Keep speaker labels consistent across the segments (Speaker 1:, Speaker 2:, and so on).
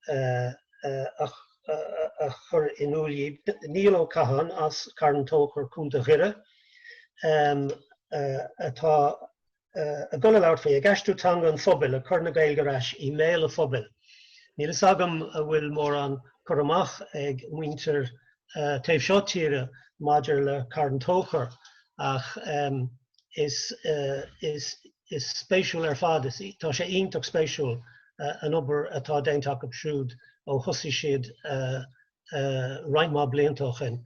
Speaker 1: a chur in iúl dhi. Niall Ó Catháin as Carn Tóchair, Co. Dhoire, atá ag dul a labhairt faoi, ag aistriú teanga an phobail, ag cur na Gaeilge ar ais i mbéal an phobail. Níl fhios agam an bhfuil mórán cur amach ag muintir taobh seo tíre maidir le Carn Tóchair ach. is, is, is spéisiúil ar fad, is, tá sé iontach spéisiúil an obair atá déanta acu siúd ó thosaigh siad roinnt mhaith blianta ó shin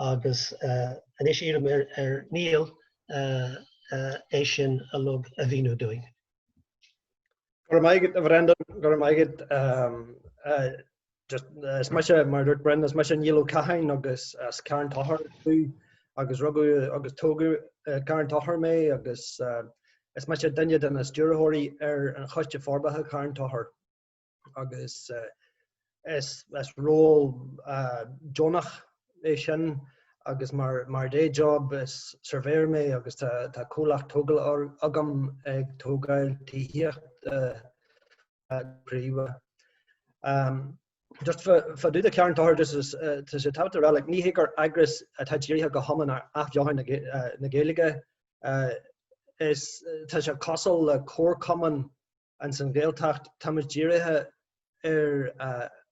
Speaker 1: agus anois iarraim ar, ar Niall é sin uilig a mhíniú dúinn.
Speaker 2: Go raibh maith agat a Bhrendan, go raibh maith agat. Is mise, mar a dúirt Brendan, is mise Niall Ó Catháin agus as Carn Tóchair domh agus rugadh agus tógadh i gCarn Tóchair mé agus is mise duine de na stiúrthóirí ar an Choiste Forbartha Charn Tóchair agus is ról deonach é sin agus mar day job is surveyor mé agus tá comhlacht tógála agam ag tógáil tithíochta príomha. Just fá dtaobh de Charn Tóchair just is tá sé tábhachtach a rá like ní hé gur eagras atá dírithe go hiomlán ar athbheochan na Gaeilge is tá sé cosúil le comharchumann ins an Ghaeltacht táimid dírithe ar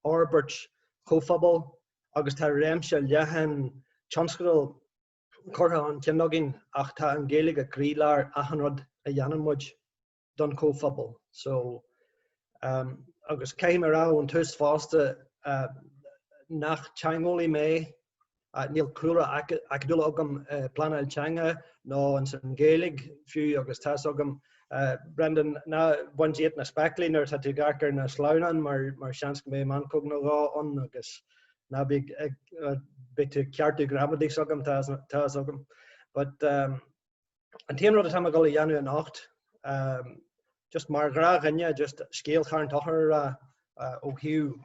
Speaker 2: fhorbairt chomhphobail agus tá réimse leathan tionscadal curtha chun cinn againn ach tá an Ghaeilge ag croílár achan rud a dhéanann muid. don chomhphobal. So agus caithfidh mé a rá ón tús fosta nach teangeolaí mé, níl cúlra acadúil agam i bpleanáil teanga nó ins an Ghaeilge fiú agus tá's agam, Brendan, ná bain díot na spéaclaí nuair atá tú ag amharc ar na sleamhnáin mar seans go mbeidh meancóg nó dhó ann agus ná bí ag, beidh tú ag ceartú gramadaí s'agam, tá's agam. But. An t-aon rud atá mé ag dul a dhéanamh anocht, just mar ghnáthdhuine, just scéal Charn Tóchair a rá ó thaobh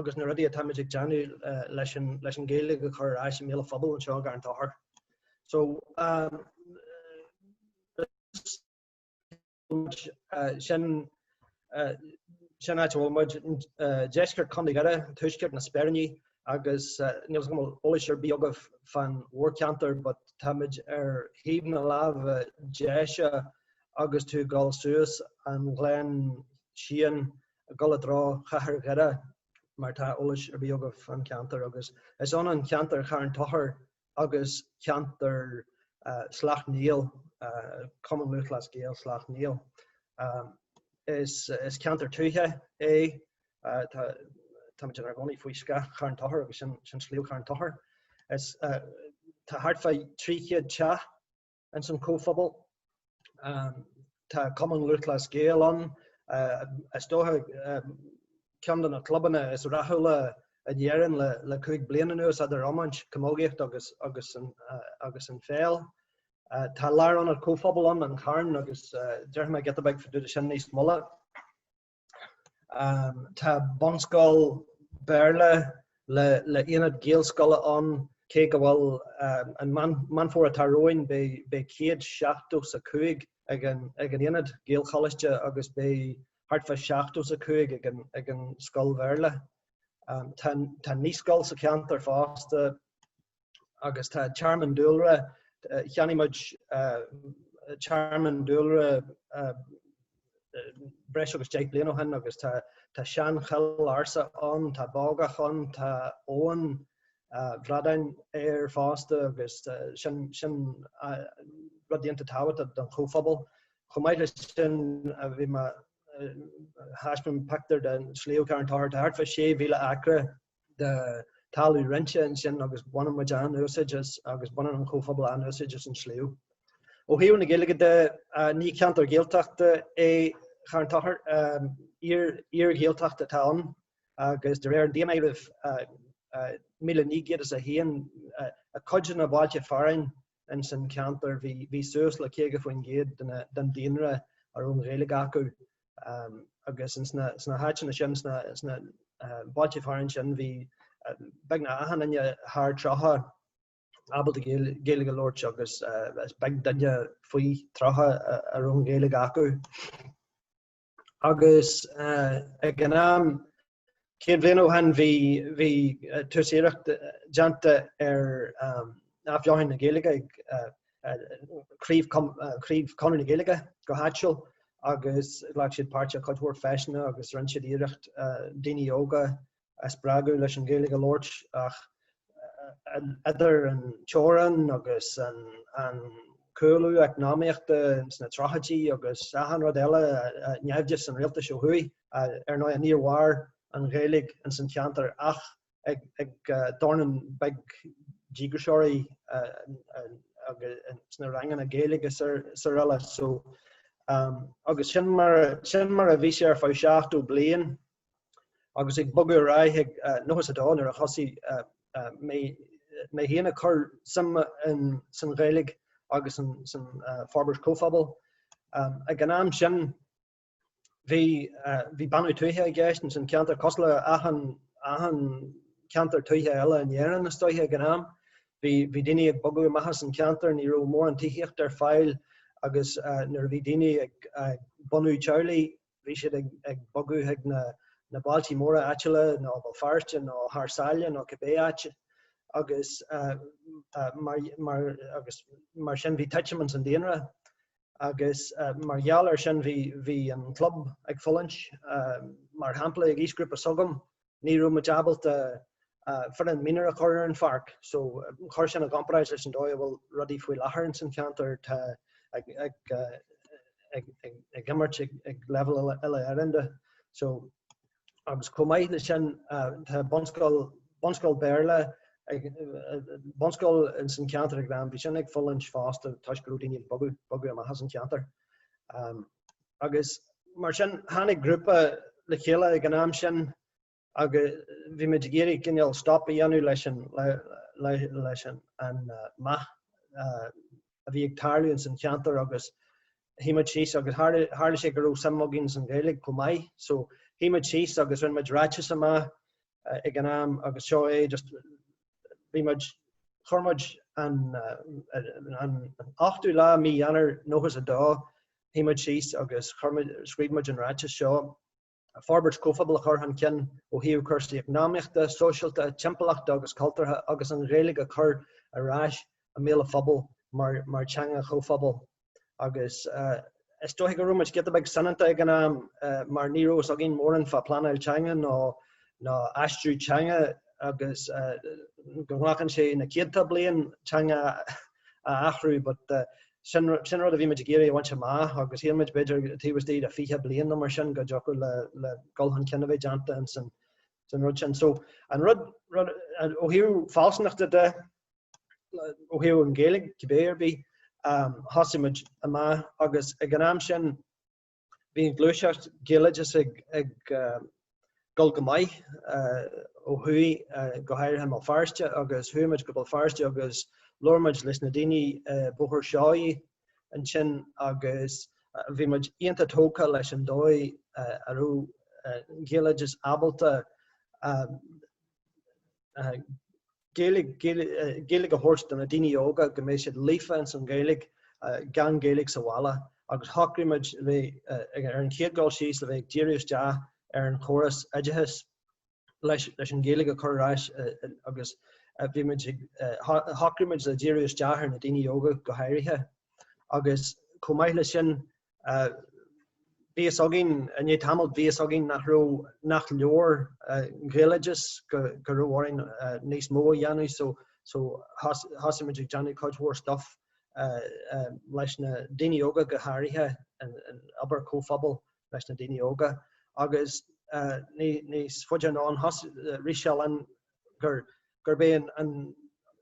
Speaker 2: agus na rudaí atáimid ag déanamh leis an leis an Ghaeilge a chur ar ais i mbéal an phobail anseo i gCarn Tóchair. So, muid, sin an áit a bhfuil muid, deisceart Chontae Dhoire, tuaisceart na Speiríní agus níl fhios agam an bhfuil eolas ar bith agaibh fán mhórcheantar but tá muid ar thaobh na láimhe deise agus tú ag dul suas an Ghleann Seáin ag dul i dtreo chathair Dhoire má tá eolas ar bith agaibh fán cheantar agus is ionann ceantar Charn Tóchair agus ceantar Shleacht Néill, Cumann Lúthchleas Gael Shleacht Néill. Is ceantar tuaithe é, táimid inár gcónaí faoi scáth Charn Tochair agus sin Sliabh Charn Tochair. Tá thart fá 300 teach. ins an comhphobal. Tá Cumann Lúthchleas Gael ann, is dócha ceann de na clubanna is rathúla in Éirinn le cúig bliana anuas eadar iomáint, camógaíocht agus an pheil. Tá lárionad comhphobal ann, An Carn, agus déarfaidh mé giota beag faoi sin níos moille. Tá bunscoil Béarla le aonad Gaelscoile ann cé go bhfuil, an Meán Fómhair atá romhainn beidh céad seachtó 's a cúig ag an aonad Gaelcholáiste agus beidh thart fá seachtó 's a cúig ag an scoil Bhéarla. Tá naíscoil sa cheantar fosta. agus tá tearmann dúlra, cheannaigh muid tearmann dúlra breis agus deich bliain ó shin agus tá seanchoill ársa ann, tá bogach ann, tá abhainn bhradáin ann fosta agus sin rud iontach tábhachtach don chomhphobal. Chomh maith leis sin bhí mé ag taispeáint pictiúr den sliabh Carn Tóchair, tá thart fá 6,000 acra de thalamh roinnte ansin agus baineann muid an-úsáid as agus baineann an comhphobal an-úsáid as an sliabh. Ó thaobh na Gaeilge de, ní ceantar Gaeltachta é Carn Tochair, iar-Ghaeltacht atá ann agus de réir an daonáirimh 1901, i gcuid de na bailte fearainn ins an cheantar bhí suas le 50% den daonra a raibh an Ghaeilge acu. agus sna háiteanna sin, sna bailte fearainn sin, bhí beagnach achan duine thar tríocha ábalta Gaeilge a labhairt agus is beag duine faoi tríocha a raibh an Ghaeilge acu. Agus ag an am Céad bliain ó shin bhí tús iarracht déanta ar athbheochan na Gaeilge ag craobh Chonradh na Gaeilge go háitiúil agus ghlac siad páirt i cuid mhór feiseanna agus rinn siad iarracht daoine óga a spreagadh leis an Ghaeilge a labhairt ach idir an teorainn agus an cúlú eacnamaíochta sna tríochaidí agus achan rud eile, naimhdeas an rialtais ó thuaidh. Ar ndóigh, níor mhair an Ghaeilge ins an cheantar ach ag dornán beag díograiseoirí sna ranganna Gaeilge srl. So agus sin mar a bhí sé ar feadh 70 bliain. agus ag bogadh ar aghaidh ag nóchas a dó nuair a thosaigh mé féin ag cur suim sa Ghaeilge agus sa forbairt chomhphobail. Ag an am sin, bhí bánú tuaithe i gceist ins an cheantar, cosúil le achan cheantar tuaithe eile in Éirinn, is dóiche, ag an am. Bhí daoine ag bogadh amach as an cheantar, ní raibh mórán tithíochta ar fáil agus nuair a bhí daoine ag bunú teaghlaigh, bhí siad ag bogadh chuig na bailtí móra áitiúla nó Béal Feirste nó thar sáile nó cibé áit agus mar sin bhí titim ins an daonra agus mar gheall ar sin bhí an club ag fulaingt, mar shampla ag aoisghrúpa s'agam. ní raibh muid ábalta foireann mionúr a chur ar an pháirc so chuir sin i gcomparáid leis an dóigh a bhfuil rudaí faoi láthair ins an cheantar ag imirt ag leibhéal uile-Éireannda so agus chomh maith leis sin tá bunscoil, bunscoil Béarla ag, bunscoil ins an cheantar ag Gleann, bhí sin ag fulaingt fosta toisc go raibh daoine ag bogadh, bogadh amach as an cheantar. agus mar sin tháinig grúpa le chéile ag an am sin agus bhí muid ag iarraidh cineál stop a dhéanamh leis an, leis an, an meath a bhí ag tarlú ins an cheantar agus shuigh muid síos agus tharla, tharla sé go raibh suim againn ins an Ghaeilge chomh maith so shuigh muid síos agus rinne muid ráiteas amach ag an am agus seo é just, bhí muid, chuir muid an, an, an, an ochtú lá mí Eanáir nóchas a dó shuigh muid síos agus chuir muid, scríobh muid an ráiteas seo, Forbairt chomhphobail a chur chun cinn ó thaobh cúrsaí eacnamaíochta, sóisialta, timpeallachta agus cultúrtha agus an Ghaeilge a chur ar ais i mbéal an phobail mar theanga chomhphobail. Agus is dóiche go raibh muid giota beag soineanta ag an am mar ní raibh fhios againn mórán fá pleanáil teanga nó nó aistriú teanga agus go nglacann sé na céadta bliain teanga a athrú but Sin rud a bhí muid ag iarraidh a bhaint amach agus shíl muid, b'fhéidir, taobh istigh de fiche bliain nó mar sin go dtiocfadh le dhul chun cinn a bheith déanta in san rud sin. So, an rud, ó thaobh fealsúnachta de, ó thaobh an Ghaeilge, cibé ar bith, thosaigh muid amach agus ag an am sin, Bhí an ghluaiseacht Ghaeloideachais ag dul go maith ó thuaidh, go háirithe i mBéal Feirste, agus chuaigh muid go Béal Feirste agus labhair muid leis na daoine i Bóthar Seoighe ansin agus bhí muid iontach tógtha leis an dóigh a raibh an Gaeloideachas ábalta Gaeilge a thabhairt do na daoine óga, go mbeidh siad líofa ins an Ghaeilge, gan Gaeilge sa bhaile, agus shocraigh muid le bheith, ar an chéad dul síos, le bheith ag díriú isteach ar an chóras oideachais leis an Ghaeilge a chur ar ais agus bhí muid ag, shocraigh muid le díriú isteach ar na daoine óga go háirithe agus chomh maith le sin, Bhí fhios againn i ndiaidh tamaill, bhí fhios againn nach raibh, nach leor an Ghaeloideas, go raibh orainn níos mó a dhéanamh so, so thosaigh muid ag déanamh cuid mhór stuff leis na daoine óga go háirithe, obair comhphobail leis na daoine óga agus níos faide anonn thosaigh, rith sé linn gur gurb é an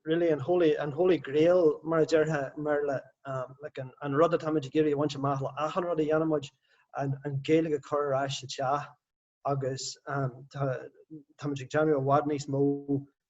Speaker 2: really an holy an holy grail mar a déarfá mar le um, like an, an rud atáimid ag iarraidh a bhaint amach le achan rud a dhéanaimid an, an Gaeilge a chur ar ais sa teach agus um, tá, táimid ag déanamh i bhfad níos mó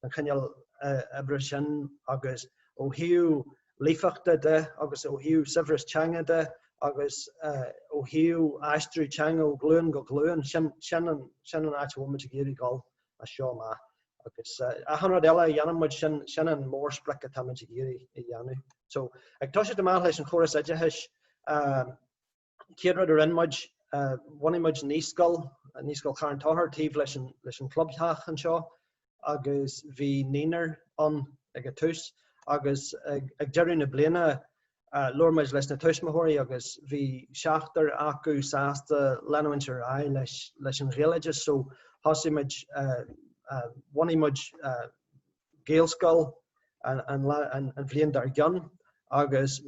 Speaker 2: den chineál uh, oibre sin agus ó thaobh líofachta de agus ó thaobh saibhreas teanga de agus uh, ó thaobh aistriú teanga ó ghlúin go glúin sin, sin, an, sin an áit a bhfuilmid ag iarraidh dul as seo amach. Agus achan rud eile a dhéanann muid, sin, sin an mórsprioc atáimid ag iarraidh a dhéanamh. So, ag toiseacht amach leis an chóras oideachais, an chéad rud a rinne muid, bhunaigh muid naíscoil, Naíscoil Charn Tochair, taobh leis an, leis an chlubtheach anseo agus bhí naoinear ann ag an tús agus ag, ag deireadh na bliana, Labhair muid leis na tuismitheoirí agus bhí seachtar acu sásta leanúint ar aghaidh leis an Ghaeloideas so thosaigh muid, bhunaigh muid Gaelscoil an bhliain dár gcionn agus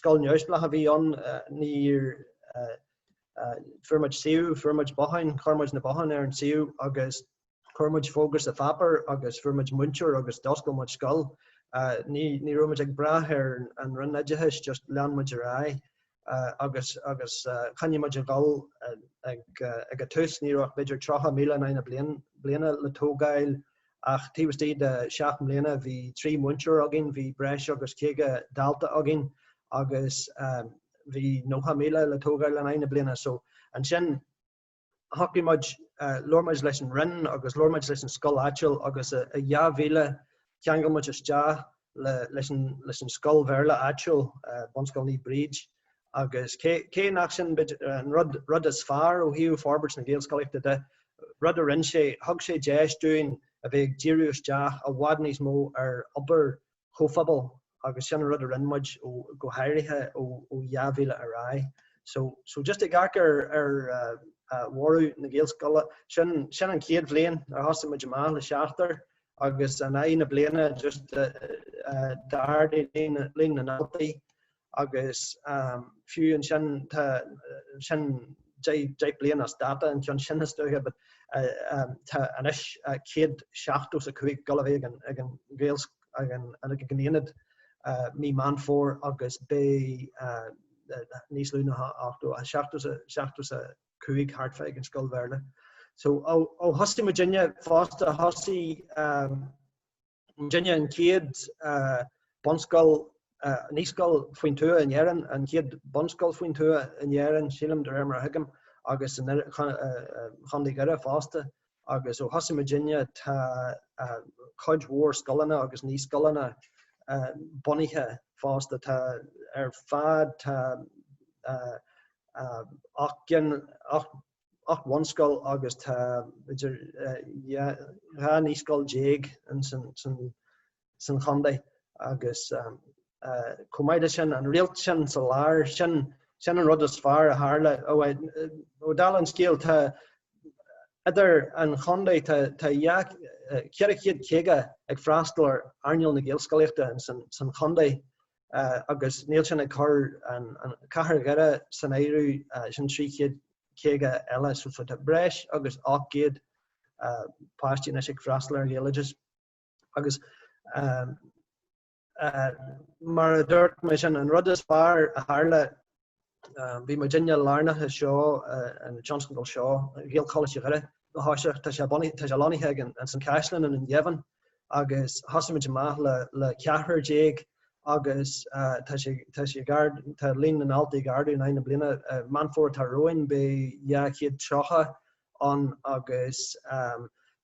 Speaker 2: scoil neamhspleách a bhí ann, níor, fuair muid suíomh, fuair muid botháin, chuir muid na botháin ar an suíomh agus. Chuir muid fógra sa pháipéar agus fuair muid múinteoir agus d'oscail muid scoil. Ní raibh muid ag brath ar an Roinn Oideachais, just lean muid ar aghaidh agus agus choinnigh muid ag dul ag an tús ní raibh ach b'fhéidir 30 míle in aghaidh na bliana le tógáil ach taobh istigh de seacht mbliana bhí trí mhúinteoir againn, bhí breis agus caoga dalta againn agus bhí 90 míle le tógáil in aghaidh na bliana so ansin. Shocraigh muid, labhair muid leis an Roinn agus labhair muid leis an scoil áitiúil agus i 2000 cheangail muid isteach leis an scoil Bhéarla áitiúil, Bunscoil Naomh Bríd, agus cé nach sin b'fhéidir an rud is fearr ó thaobh forbairt na Gaelscolaíochta de, rud a rinne sé, thug sé deis dúinn a bheith ag díriú isteach i bhfad níos mó ar obair chomhphobail agus sin an rud a rinne muid go háirithe ó 2000 ar aghaidh. So, so just ag amharc ar, ar eh, bhorradh na Gaelscoile, sin, sin an chéad bhliain ar thosaigh muid amach le seachtar agus in aghaidh na bliana just eh, eh, d'ardaigh líon na ndaltaí agus fiú ansin tá, sin deich, deich bliain as dáta an ceann sin is dócha, but tá anois céad seachtó is a cúig ag dul a bheith ag an Gaelscoil, ag an Aonad mí Meán Fómhair agus beidh níos lú ná ochtó, seachtó is a, seachtó is a cúig thart fá ag an scoil Bhéarla. So ó thosaigh muidinne fosta, thosaigh. Muidinne an chéad bunscoil, naíscoil faoin tuath in Éirinn, an chéad bunscoil faoin tuath in Éirinn, sílim, de réir mar a thuigim, agus in Chontae Dhoire fosta. Agus ó thosaigh muidinne tá cuid mhór scoileanna agus naíscoileanna bunaithe fosta. Tá ar fad, tá ocht gcinn, ocht. ocht bhunscoil agus tá idir dhá naíscoil déag san chontae agus chomh maith le sin an réalt sin sa lár sin sin an rud is fearr a tharla ó dála an scéal tá idir an chontae tá tá eh ceithre chéad caoga ag freastal ar earnáil na Gaelscolaíochta san chontae agus níl sin ag cur an Chathair Dhoire san áireamh, sin 350 eile so so tá breis agus 800 páistí anois ag freastal ar an Ghaeloideas agus mar a dúirt mé sin, an rud is fearr a tharla Bhí muidinne lárnach i seo, an tionscadal seo, Gaelcholáiste Dhoire ó thosach. Tá sé lonnaithe ag, ins an caisleán i nDún Geimhin agus thosaigh muid amach le ceathrar déag agus tá sé ag ardú, tá líon na ndaltaí ag ardú in aghaidh na bliana. Meán Fómhair atá romhainn beidh dhá chéad tríocha ann agus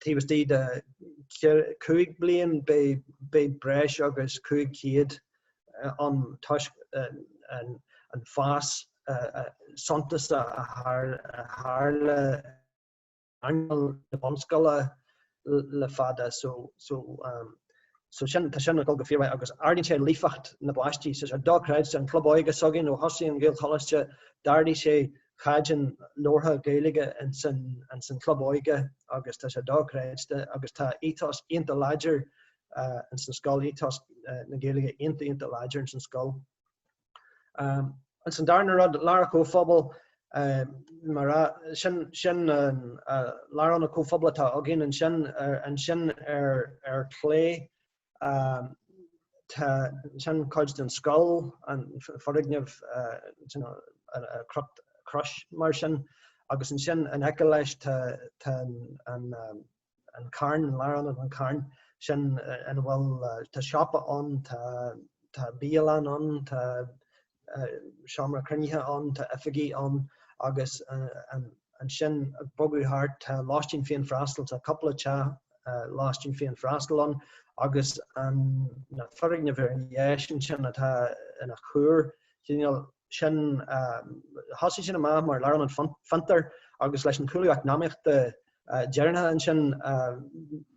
Speaker 2: taobh istigh de chúig bliain beidh breis agus 500 ann toisc an fás suntasach a tharla ar earnáil na bunscoile le fada so sin, tá sin ag dul go fíormhaith agus ardaíonn sé líofacht na bpáistí tá sé dochreidte. An Club Óige s'againn ó thosaigh an Ghaelcholáiste, d'ardaigh sé caighdeán labhartha Gaeilge ins an Chlub Óige agus tá sé dochreidte agus tá ethos iontach láidir ins an scoil, ethos na Gaeilge iontach, iontach láidir ins an scoil. Agus an darna rud, Lárionad Comhphobail, mar a, sin, sin an, Lárionad an Chomhphobail atá againn ansin, ansin ar, ar chlé, tá, sin cuid den scoil, an foirgneamh, you know, i gcruth, crois mar sin, agus ansin in aice leis tá, tá an, an, an carn, an lárionad, an carn sin ina bhfuil, tá siopa ann, tá, tá bialann ann, tá seomra cruinnithe ann, tá oifigí ann agus ansin ag bogadh thart tá lóistín féin freastal, tá cúpla teach lóistín féin freastal ann agus an foirgneamh ar dheis ansin atá ina chuar, cineál, sin, thosaigh sin amach mar lárionad fiontair agus leis an chúlú eacnamaíochta deireanacha ansin,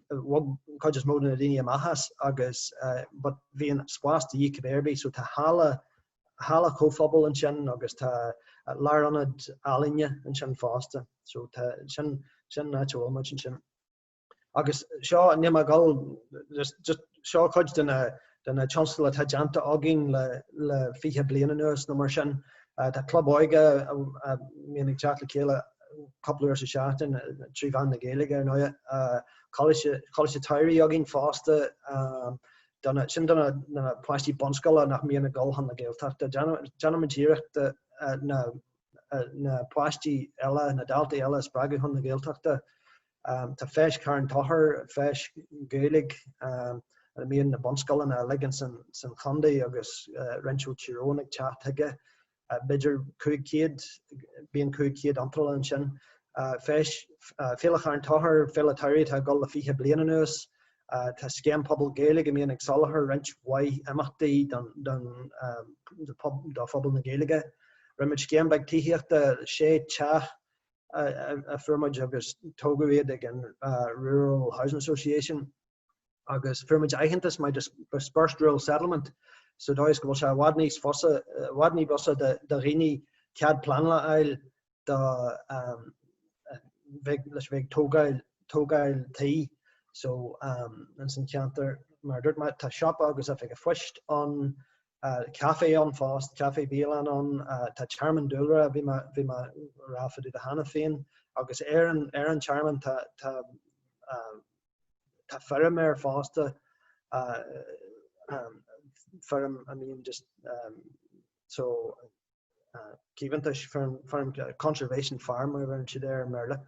Speaker 2: bhog an chuid is mó de na daoine amach as agus but bhí an spás de dhíth cibé ar bith so tá halla, halla chomhphobail ansin agus tá lárionad ealaíne ansin fosta so tá, sin, sin an áit a bhfuil muid ansin. Agus seo níl mé ag dul, seo cuid de na tionscadail atá déanta againn le fiche bliain anuas nó mar sin. Tá club óige a mbíonn ag teacht le chéile cúpla uair sa seachtain trí mheán na Gaeilge ar ndóigh. Coláiste tSamhraidh againn fosta, sin do na páistí bunscoile nach mbíonn ag dul chun na Gaeltachta. Déanaimid iarracht na páistí eile, na daltaí eile a spreagadh chun na Gaeltachta. Tá feis Charn Tóchair, feis Ghaeilge ina mbíonn na bunscoileanna uilig san chondae agus roinnt ó Tír Eoghain ag teacht chuige, b'fhéidir 500, bíonn 500 iontráil ansin. Feis, Féile Charn Tóchair, Féile tSamhraidh atá ag dul le 20 bliain anuas. Tá Scéim Pobal Gaeilge a mbíonn ag soláthar roinnt mhaith imeachtaí do phobal na Gaeilge. Rinne muid scéim beag tithíochta, 6 teach, a fuair muid agus tógadh iad ag an Rural Housing Association agus fuair muid aitheantas mar Dispersed Rural Settlement sa dóigh is go bhfuil sé anois i bhfad ní b'fhusa do dhaoine cead pleanála a fháil do bheith, leis a bheith ag tógáil, tógáil tí. So, ins an cheantar mar a dúirt mé tá siopa agus oifig an phoist ann café ann fosta, café bialann ann, tá tearmann dúlra, bhí mé, bhí mé ag rá fá dtaobh de cheana féin, agus ar an, ar an tearmann tá, tá tá feirm air fosta, feirm, I mean just, so. caomhantais, farm conservation farm mar a bheireann siad air i mBéarla.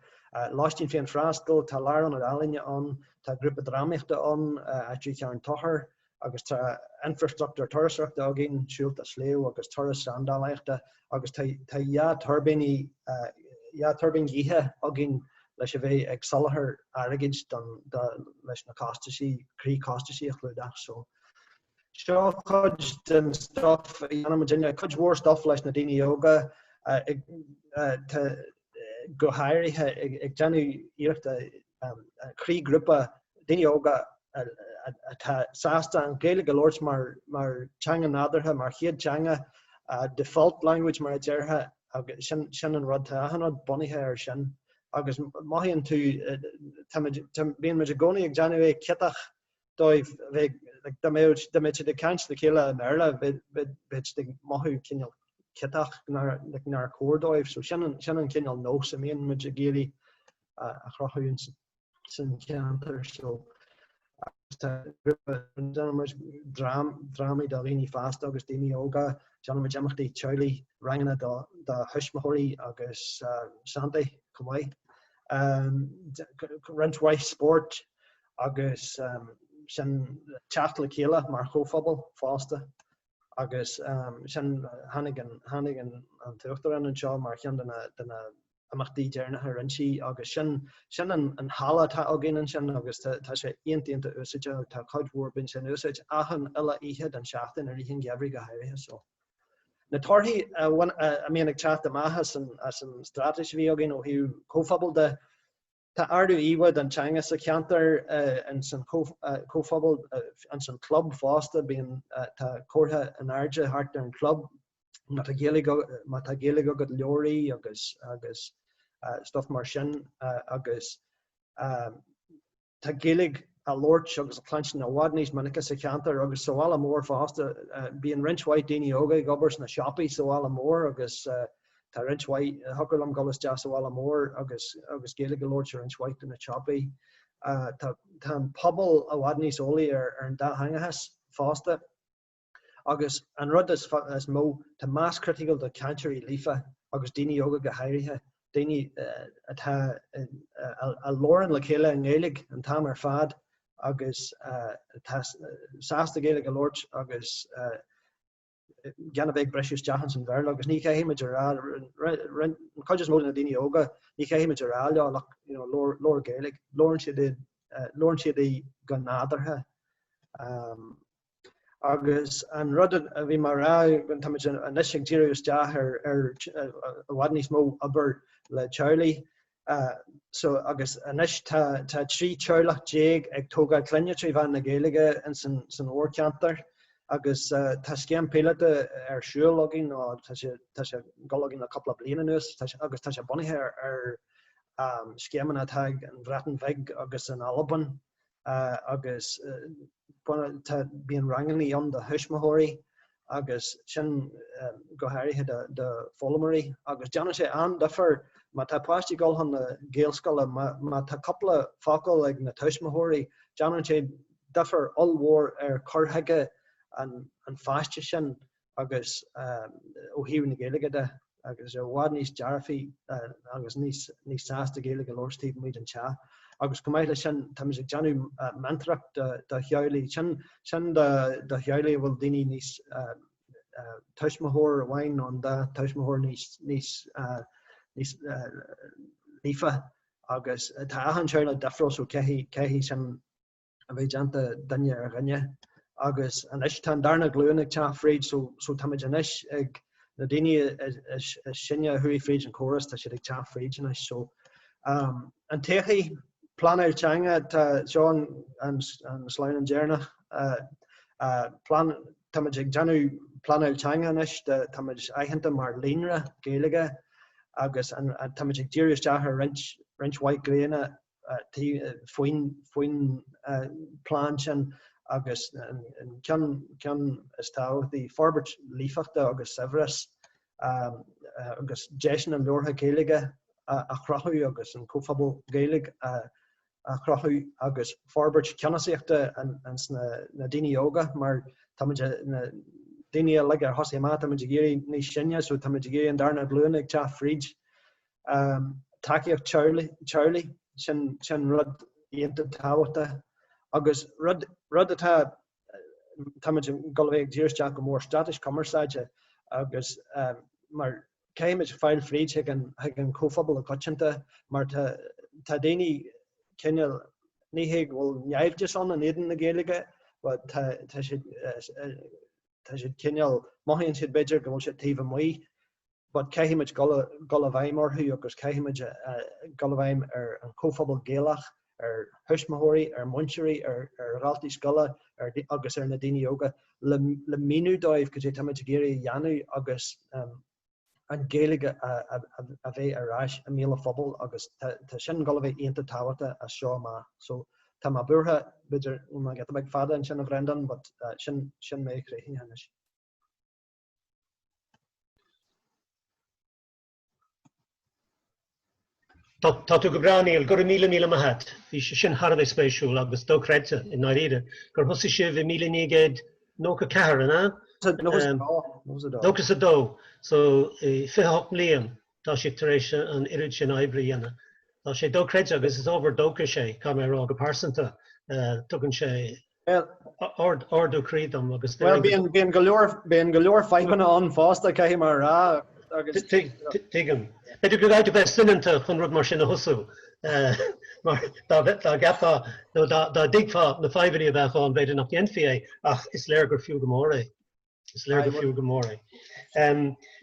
Speaker 2: Lóistín féinfhreastail, tá lárionad ealaíne ann, tá grúpa drámaíochta ann Aisteoirí Charn Tóchair agus tá infreastruchtúr turasóireachta againn, siúlta sléibhe agus turas seandálaíochta agus tá tá dhá tuirbíní dhá tuirbín ghaoithe againn leis a bheith ag soláthar airgid don do leis na costaisí croí costaisí a chlúdach. So Seo cuid den stuff a dhéanann muidinne, cuid mhór stuff leis na daoine óga go háirithe, ag déanamh iarrachta croí grúpa daoine óga atá sásta an Ghaeilge a labhairt mar teanga nádúrtha, mar chéad teanga, default language mar a déarfá, agus sin an rud, tá achan rud bunaithe air sin. Agus mothaíonn tú, bíonn muid i gcónaí ag déanamh é ciotach, dóibh a bheith ag, dá mbeadh siad ag caint le chéile i mBéarla bheadh siad ag mothú cineál ciotach nár chóir dóibh, so sin an cineál nós a mbíonn muid ag iarraidh a chruthú san cheantar seo. Agus tá grúpa, déanann muid drámaí do dhaoine fásta agus daoine óga, déanann muid imeachtaí teaghlaigh, ranganna do thuismitheoirí agus Santaí chomh maith, roinnt mhaith spóirt agus sin teacht le chéile mar chomhphobal fosta agus sin tháinig an tháinig an an tUachtarán anseo mar cheann de na de na imeachtaí deireanacha a rinne sí agus sin sin an an halla atá againn ansin agus tá tá sé iontach iontach úsáideach tá cuid mhór bíonn sé in úsáid achan uile oíche den seachtain i rith an gheimhridh go háirithe so na torthaí a bhain a a mbíonn ag teacht amach as an as an straitéis a bhí againn ó thaobh comhphobail de Tá ardú íomhá don teanga sa cheantar in san chomhphobal in san chlub fosta, bíonn tá comhartha in airde thart ar an chlub má tá Gaeilge má tá Gaeilge agat, labhair í agus agus stuff mar sin agus tá Gaeilge á labhairt agus á cluinstin i bhfad níos minice sa cheantar agus sa bhaile mór fosta. Bíonn roinnt mhaith daoine óga ag obair sna siopaí sa bhaile mór agus tá Tá roinnt mhaith, thiocfadh liom dhul isteach sa bhaile mór agus agus Gaeilge a labhairt i roinnt mhaith de na siopaí. Tá tá an pobal i bhfad níos eolaí ar ar an dátheangachas fosta. Agus an rud is is mó, tá mais chriticiúil de chainteoirí líofa agus daoine óga go háirithe, daoine atá a labhrann le chéile i nGaeilge an t-am ar fad agus atá sásta Gaeilge a labhairt agus gan a bheith ag briseadh isteach ins an Bhéarla agus ní chaithfidh muid a rá, roinnt, an chuid is mó de na daoine óga, ní chaitheann muid a rá leo ach you know labhair, labhair Gaeilge, labhrann siad í, labhrann siad í go nádúrtha. Agus an rud a bhí mar atá táimid anois ag díriú isteach ar i bhfad níos mó obair le teaghlaigh so agus anois tá tá trí teaghlach déag ag tógáil clainne trí mheán na Gaeilge in san san mhórcheantar agus tá scéim píolóta ar siúl againn nó tá sé tá sé ag dul againn le cúpla bliain anuas agus tá sé bunaithe ar scéimeanna atá sa Bhreatain Bheag agus in Albain agus tá bíonn rangannaí ann do thuismitheoirí agus sin go háirithe d'fhoghlaimeoirí agus déanann sé an-difear má tá páistí ag dul chun na Gaelscoile, má tá cúpla focal ag na tuismitheoirí, déanann sé difear ollmhór ar chur chuige an pháiste sin. agus ó thaobh na Gaeilge de, agus i bhfad níos dearfaí agus níos sásta Gaeilge a labhairt taobh amuigh den teach. Agus chomh maith leis sin, táimid ag déanamh meantóireacht do theaghlaigh, sin do theaghlaigh a bhfuil daoine níos, tuismitheoir amháin nó an dá tuismitheoir níos líofa agus tá achan teaghlach difriúil, so caithfidh, caithfidh sin, a bheith déanta duine ar dhuine agus anois tá an darna glúin ag teacht fríd so táimid anois ag na daoine is sine a chuaigh fríd an córas tá siad ag teacht fríd anois so an todhchaí pleanáil teanga tá seo an sleamhnán deireanach táimid ag déanamh pleanáil teanga anois táimid aitheanta mar líonra Gaeilge agus táimid ag díriú isteach ar roinnt mhaith gnéithe faoin bplean sin agus an ceann is tábhachtaí, forbairt líofachta agus saibhreas, agus deiseanna labhartha Gaeilge a chruthú agus an comhphobal Gaeilge a chruthú agus forbairt ceannasaíochta ins na daoine óga mar táimid, na daoine uilig a thosaigh amach, táimid ag éirí níos sine so táimid ag iarraidh an darna glúin ag teacht fríd. tacaíocht teaghlaigh, sin rud iontach tábhachtach agus rud atá, táimid ag gabháil a bheith ag díriú isteach go mór straitéis cumarsáide agus mar caithfimid fáil fríd chuig an chomhphobal i gcoitianta mar tá daoine cineál, ní hé go bhfuil naimhdeas ann in éadan na Gaeilge but tá siad cineál, mothaíonn siad b'fhéidir go bhfuil siad taobh amuigh. but caithfimid dul i bhfeidhm orthu agus caithfimid dul i bhfeidhm ar an chomhphobal Gaelach, ar thuismitheoirí, ar mhúinteoirí, ar dhaltaí scoile agus ar na daoine óga le míniú dóibh cad é táimid ag iarraidh a dhéanamh agus an Ghaeilge a bheith ar ais i mbéal an phobail agus tá sin dul a bheith iontach tábhachtach as seo amach. So tá mé buartha, b'fhéidir go ndeachaigh mé giota beag fada ansin a Bhrendán but sin mé críochnaithe anois.
Speaker 1: Tá tú go breá, Niall, go raibh míle maith a't. Bhí sé sin thar a bheith spéisiúil agus dochreidte, i ndáiríre, gur thosaigh sibh i míle naoi gcéad nócha ceathair, an ea? Nócha 'sa dó. Nócha 'sa dó, so fiche hocht mbliain. tá sibh tar éis an oiread sin oibre a dhéanamh. Tá sé dochreidte agus is ábhar dóchais é, caithfidh mé a rá, go pearsanta. Tugann sé ardú croí dom agus deir go. Bhuel,
Speaker 2: bíonn go leor fadhbanna ann fosta, caithfidh mé a rá agus.
Speaker 1: Tuigim. B'fhéidir go gcaithfidh tú bheith soineanta chun rud mar sin a thosú mar dá gceapfá nó dá dtuigfeá na fadhbanna a bheadh ann, b'fhéidir nach ndéanfaí é ach is léir gur fiú go mór é. Is léir go fiú go mór é.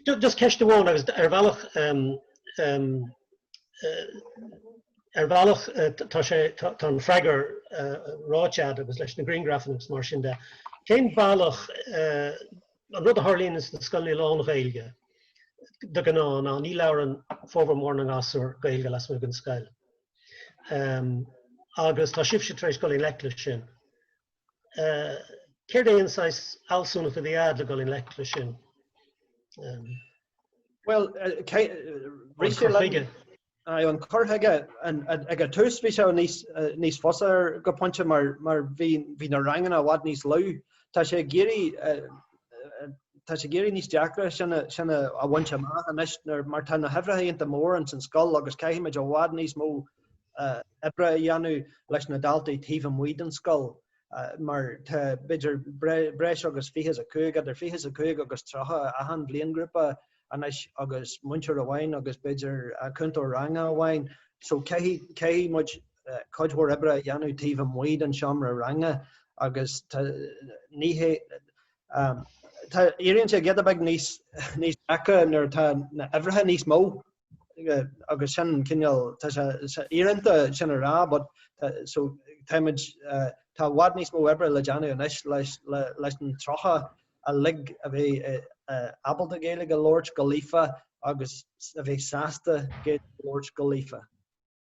Speaker 1: Just ceist amháin agus ar bhealach ar bhealach tá sé tá an freagra ráite a'd agus leis na griangrafanna agus mar sin de, cén bealach an rud a tharlaíonn sna scoileanna lán-Ghaeilge de ghnáth ná ní labhrann formhór mór na ngasúr Gaeilge lasmuigh den scoil agus tá sibhse tar éis dul i ngleic leis sin. céard é an saghas fealsúnacht a bhí a'd le dhul i ngleic leis
Speaker 2: sin? Bhuel, rith sé liom, aye, an cur chuige, ag an tús bhí sé níos fusa go pointe mar bhí na ranganna i bhfad níos lú. Tá sé ag éirí, tá sé ag éirí níos deacra sin a bhaint amach anois mar tá na huimhreacha iontach mór ins an scoil agus caithfimid i bhfad níos mó oibre a dhéanamh leis na daltaí taobh amuigh den scoil mar tá b'fhéidir breis agus fiche is a cúig, idir fiche is a cúig agus tríocha achan bhliainghrúpa anois agus múinteoir amháin agus b'fhéidir cúntóir ranga amháin so caithfidh muid cuid mhór oibre a dhéanamh taobh amuigh den seomra ranga agus tá, ní hé, tá, éiríonn sé giota beag níos deacra nuair atá na huimhreacha níos mó. agus sin cineál tá sé íorónta sin a rá but so tá muid tá i bhfad níos mó oibre le déanamh anois leis leis an tríocha uilig a bheidh ábalta Gaeilge a labhairt go líofa agus a bheidh sásta Gaeilge a labhairt go líofa.